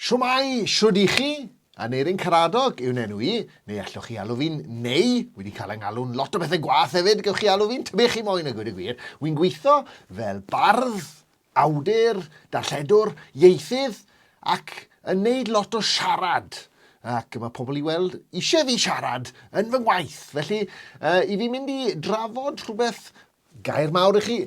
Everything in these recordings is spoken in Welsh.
Shwmae, shwd i chi? Aneurin Karadog yw'n enw i, neu allwch chi alw fi'n Neu, wedi cael 'y ngalw'n lot o bethe gwath hefyd, gewch chi alw fi'n tybed chi moyn a gweud y gwir, wi'n gweithio fel bardd, awdur, darlledwr, ieithydd, ac yn neud lot o siarad, ac mae pobl i weld eisiau fi siarad yn fy ngwaith, felly i fi mynd i drafod rhywbeth Gair mawr i chi,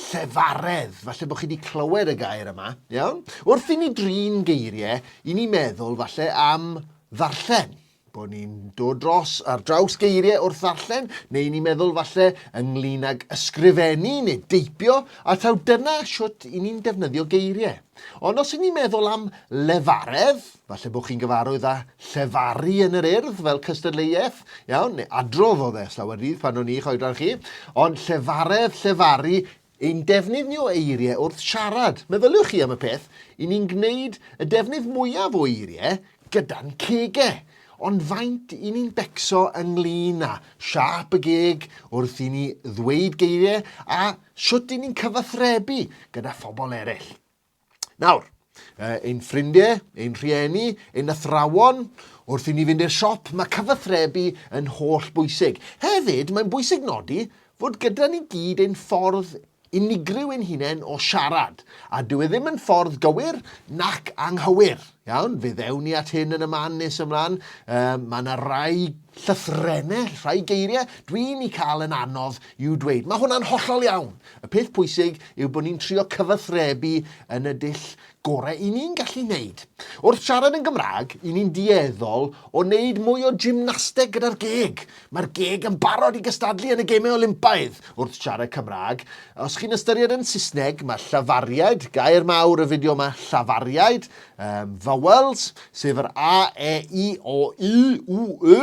llefaredd. Falle bod chi wedi clywed y gair yma, iawn? Wrth i ni drin geiriau, i ni meddwl falle am ddarllen bod ni'n dod dros ar draws geiriau wrth ddarllen, neu ni'n meddwl falle ynglyn ag ysgrifennu neu deipio, a taw dyna siwt i ni'n defnyddio geiriau. Ond os 'yn ni'n meddwl am lefaredd, falle bod chi'n gyfarwydd â llefaru yn yr urdd fel cystadleuaeth, iawn, neu adrodd oedd e slawer dydd pan o'n i'ch oedran chi, ond llefaredd, llefaru, ein defnydd ni o eiriau wrth siarad. Meddyliwch chi am y peth, i ni'n gwneud y defnydd mwyaf o eiriau gyda'n cegau, ond faint i ni'n becso ynglyn â siâp y geg wrth i ni ddweud geiriau a Sut i ni'n cyfathrebu gyda phobl eraill. Nawr, ein ffrindiau, ein rhieni, ein athrawon, wrth i ni fynd i'r siop, mae cyfathrebu yn holl bwysig. Hefyd, mae'n bwysig nodi fod gyda ni gyd ein ffordd unigryw ein hunain o siarad, a dyw e ddim yn ffordd gywir nac anghywir. Iawn, fe ddewn ni at hyn yn y man nes ymlaen. Um, mae yna rai llythrennau, rhai geiriau, dwi'n i cael yn anodd i'w dweud. Mae hwnna'n hollol iawn. Y peth pwysig yw bod ni'n trio cyfathrebu yn y dull gorau i ni'n gallu wneud. Wrth siarad yn Gymraeg, i ni'n dueddol o wneud mwy o gymnasteg gyda'r geg. Mae'r geg yn barod i gystadlu yn y Gemau Olympaidd wrth siarad Cymraeg. Os chi'n ystyried yn Saesneg, mae llafariaid, gair mawr y fideo yma, llafariaid, um, vowels, sef yr A, E, I, O, U, U, Y,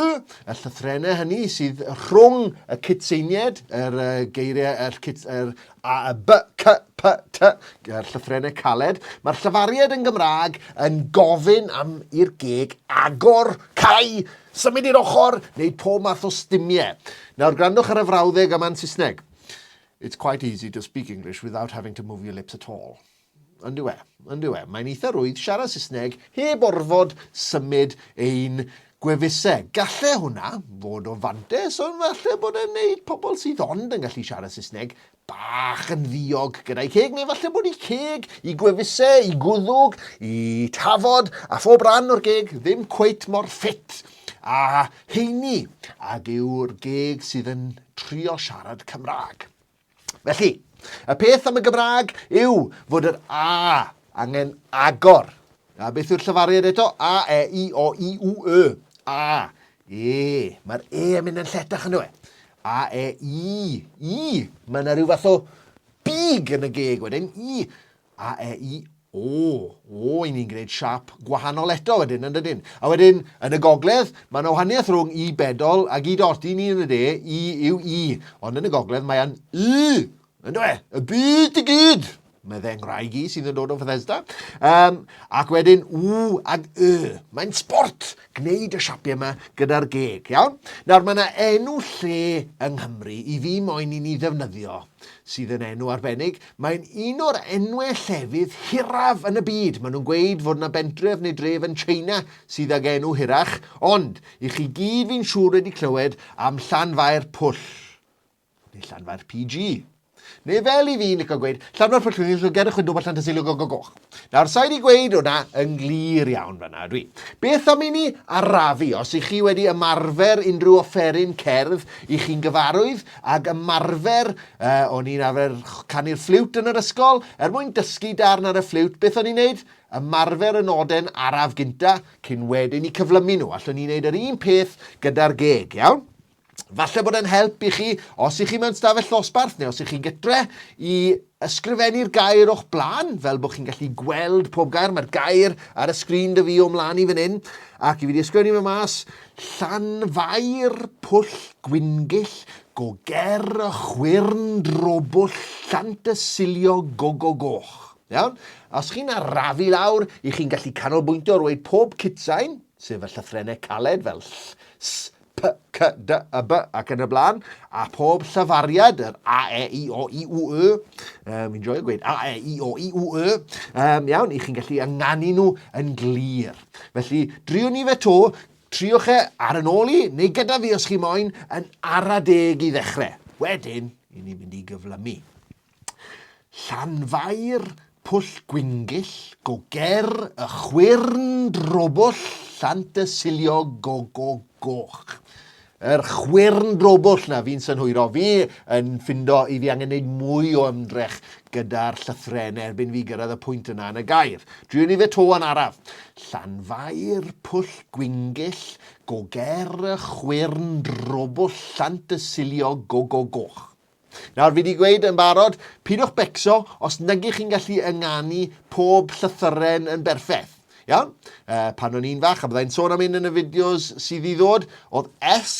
y llythrennau hynny sydd rhwng y cydseinied, yr uh, geiriau, yr, cyd, yr A, y B, C, P, T, yr llythrennau caled. Mae'r llafariaid yn Gymraeg yn gofyn am i'r geg agor, cau, Symud i'r ochr, neu pob math o stumie. Nawr grandwch ar y frawddeg yma'n Saesneg. It's quite easy to speak English without having to move your lips at all. Ond yw e, ond yw e, mae'n eitha rwydd siarad Saesneg heb orfod symud ein gwefusau. Galle hwnna fod o fantes, ond falle bod e'n neud pobl sydd ond yn gallu siarad Saesneg bach yn ddiog gyda'i ceg neu falle bod ei ceg, i gwefuse, i gwddwg, i tafod a phob rhan o'r geg ddim cweit mor ffit a heini ag yw'r geg sydd yn trio siarad Cymraeg. Felly, y peth am y Gymraeg yw fod yr A angen agor. A beth yw'r llefariad eto? A, E, I, O, I, U, Y. A. Ee, mae'r e yn mynd yn lletach ynddo fe. A, e, i, i. Mae yna rhyw fath o big yn y geg wedyn. I, a, e, i, o. O, i ni'n gwneud siap gwahanol eto wedyn, yn dydyn. A wedyn, yn y gogledd, mae yna wahaniaeth rhwng i bedol ac i dot. I ni yn y de, i yw i. Ond yn y gogledd, mae'n y. Yndw e, y byd i gyd! Mae fe ngwraig i sydd yn dod o Fethesda. Um, ac wedyn, w ag y. Mae'n sport gwneud y siapiau yma gyda'r geg, iawn? Nawr, mae yna enw lle yng Nghymru i fi moyn i ni ddefnyddio sydd yn enw arbennig. Mae'n un o'r enwau llefydd hiraf yn y byd. Maen nhw'n gweud fod yna bentref neu dref yn China sydd ag enw hirach, ond i chi gyd fi'n siŵr wedi clywed am Llanfair Pwll. Neu Llanfair PG. Neu fel i fi licio gweud, Llanfair Pwllhwyngyll, Llwgr y Chwydw, Botlan Tysilwg o Gogoch. Nawr, sa'i di gweud hwnna yn glir iawn fanna, ydw i. Beth am i ni arafu, os i chi wedi ymarfer unrhyw offeryn cerdd i chi'n gyfarwydd, ag ymarfer, uh, o'n i'n arfer canu'r ffliwt yn yr ysgol, er mwyn dysgu darn ar y ffliwt, beth o'n i'n neud? ymarfer y noden araf gynta cyn wedyn i cyflymu nhw. Allwn ni wneud yr un peth gyda'r geg, iawn? Falle bod e'n help i chi, os i chi mewn stafell ddosbarth neu os i chi gytre, i ysgrifennu'r gair o'ch blaen, fel bod chi'n gallu gweld pob gair. Mae'r gair ar y sgrin dy fi o'm mlaen i fan hyn, ac i fi wedi ysgrifennu fe mas, Llanfair, Pwll Gwyngyll, go ger y chwyrn drobwll llant y silio gogo goch. Iawn? Os chi'n arafu lawr, i chi'n gallu canolbwyntio ar weud pob cutsain, sef y llythrennau caled fel ll, s, P, C, D, Y, B ac yn y blaen, a pob llyfariad, yr A, E, I, O, I, U, Y, um, fi'n joio gweud A, E, I, O, I, U, Y, um, iawn, i chi'n gallu ynganu nhw yn glir. Felly, driwn ni fe to, triwch e ar yn ôl i, neu gyda fi os chi moyn, yn ara deg i ddechrau. Wedyn, i ni fynd i gyflymu. Llanfair, Pwll Gwyngyll, go ger, y chwyrn drobwll, llant y siliog, go go goch. Yr chwyrn drobwll na fi'n synhwyro. Fi yn ffindo i fi angen gwneud mwy o ymdrech gyda'r llythre yn erbyn fi gyrraedd y pwynt yna yn y gair. Dwi'n ni fe to yn araf. Llanfair, Pwll Gwyngyll, go ger, y chwyrn drobwll, llant y siliog, go go goch. Nawr, fi wedi gweud yn barod, pidwch becso os nagych chi'n gallu ynganu pob llythyren yn berffeth. Iawn? Uh, pan o'n i'n fach, a byddai'n sôn am un yn y fideos sydd i ddod, oedd S,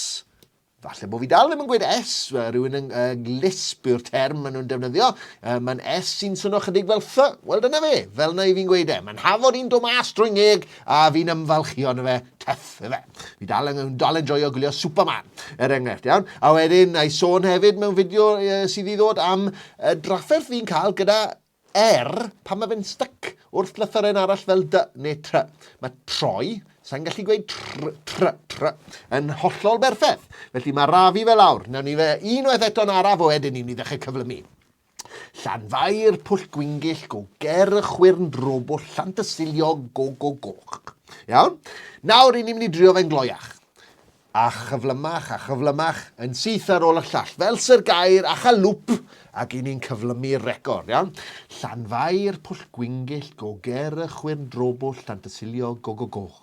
falle bod fi dal ddim yn gweud S, uh, rhywun yn uh, lisp yw'r term maen nhw'n defnyddio, uh, mae'n S sy'n swnio chydig fel th, wel dyna fe, fel na i fi'n gweud e, mae'n hafod i'n do mas drwy ngeg a fi'n ymfalchio yn y fe, Tuff, efe. Fi dal yn yn dal yn joio gwylio Superman, er enghraifft, iawn? A wedyn, na i sôn hefyd mewn fideo uh, sydd i ddod am uh, drafferth fi'n cael gyda er pan mae fe'n styc wrth lythyren arall fel dy neu try. Mae troi, sa'n gallu gweud tr, tr, tr, yn hollol berffaith. Felly mae rafi fel awr. Nawn ni fe unwaith eto'n araf o edyn i ni ddechrau cyflymu. Llanfair, Pwll Gwyngyll, go ger y chwyrn drobwll, Llant y Siliog, go go goch. Iawn? Nawr, i ni'n mynd i drio fe'n gloiach. A chyflymach, a chyflymach, yn syth ar ôl y llall, fel sy'r gair, a chael lwp, ac i ni'n cyflymu'r record, iawn? Llanfair, Pwll Gwyngyll, go ger y chwyrn drobwll, Llant y Siliog, go go goch.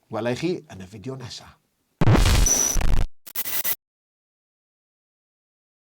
Wela i chi yn y fideo nesa.